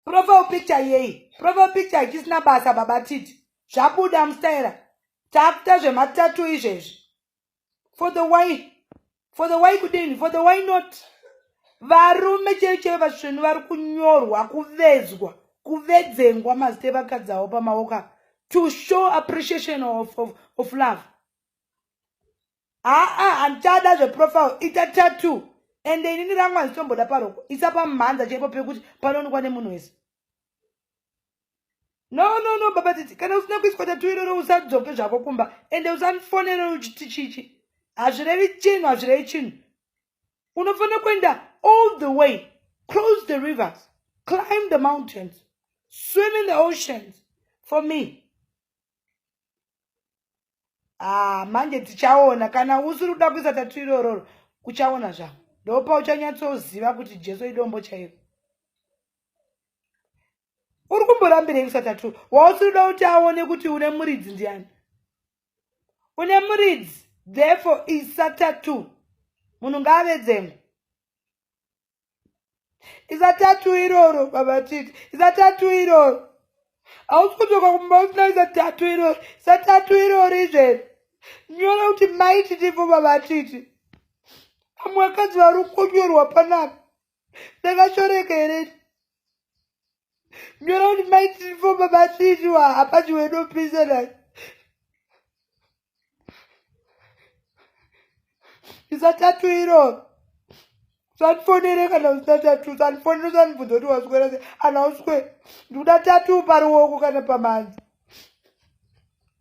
profile picture yei profile picture hachisina basa baba titi zvabuda mustaira takuta zvematatu izvezvi for the why for the why kudini for the why not varume chei chei vasvenu vari kunyorwa kuvezwa kuvedzengwa mazita evakadzi avo pamaoko avo to show appreciation of, of, of love haa handichada zveprofile ita tatu ende inini rangu handitomboda paroko isa pamhanza chaipo pekuti panoonekwa nemunhu wese no no no baba titi kana usina kuiswa tatu iroro usadzoke zvako kumba ende usandifonere uchiti chichi hazvirevi chinhu hazvirevi chinhu unofanira kuenda all the way cross the rivers climb the mountains swim in the oceans for me ah, manje tichaona kana usiri kuda kuisa tatu irororo uchaona zvavo ndopa uchanyatsoziva kuti jesu idombo chaivo uri kumborambirei kuisa tatu wausiri kuda kuti aone kuti une muridzi ndiani une muridzi therefore isa tatu munhu ngaavedzengwa izatatu iroro baba titi izatatu iroro hausi kutoka kumba usina izatatu iroro izatatu iroro izveri nyora kuti mai titivo baba titi amwe vakadzi vari kunyorwa panapa ndakashoreka here Ndinoona kuti mai tirifo baba tiriwa apa chiwenopisa nani. Isa tatu iro. Sandifonere kana usina tatu. Sandifonere sanibvunza kuti waswera sei. Ana uswe. Ndikuda tatu paruoko kana pamanzi.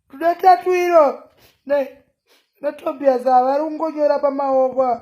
Ndikuda tatu iro. Ne. Natobias avari kungonyora pamaoko.